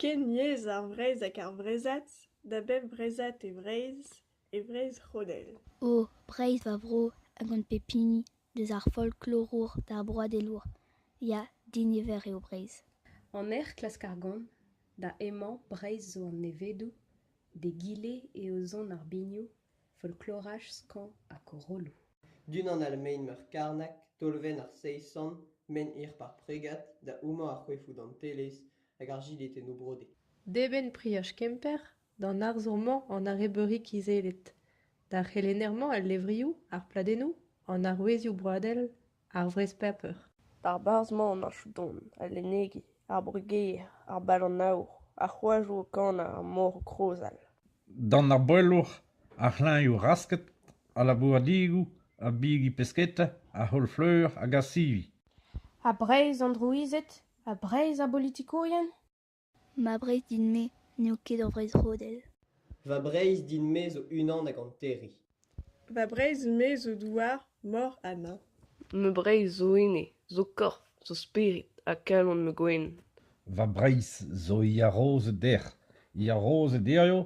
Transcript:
Ken yezh ar Vreizh hag ar Breizhad da bep Breizhad e Vreizh e Vreizh-C'honell. O Breizh va vro a gont pep hini deus ar folklorour d'ar broadelour ya diniver eo Breizh. En hec'h klask ar gont da emañ Breizh zo an nevedoù d'egile eo zont ar binioù folkloraj skañv ha korolloù. D'unan all mein Meurkarnag, tolvenn ar Seisan, mein hir Parpregad, da houmañ ar c'hoefoù dantelez hag ar jilhetennoù brodet. D'eben Priaj Kemper, d'an arzour-mañ an arrebeuri kizellet, d'ar c'helenner-mañ al levrioù, ar pladennoù, an arouezioù broadel, Ar wrez paper. D'ar berzh-mañ emañ Chouton, al lennegi, ar brugeier, ar bal-an-aour, ar c'hoajoù o kanañ er mor krozal. D'an arboellour, ar c'hlañvioù rasket, al labouradigoù, ar bigi pesketa, ar c'holl-fleur hag ar sivi. Ha Breizh an drouized? Ha Breizh ar bolitikourien? Ma Breizh din-me n'eo ket ur Breizh rodel. Va Breizh din-me zo unan hag hanterriñ. Va Breizh-me zo douar, mor ha neñv. Ma Breizh zo ene, zo korf, zo spered ha kalon ma gwen. Va Breizh zo yarozed dec'h, yarozed hiziv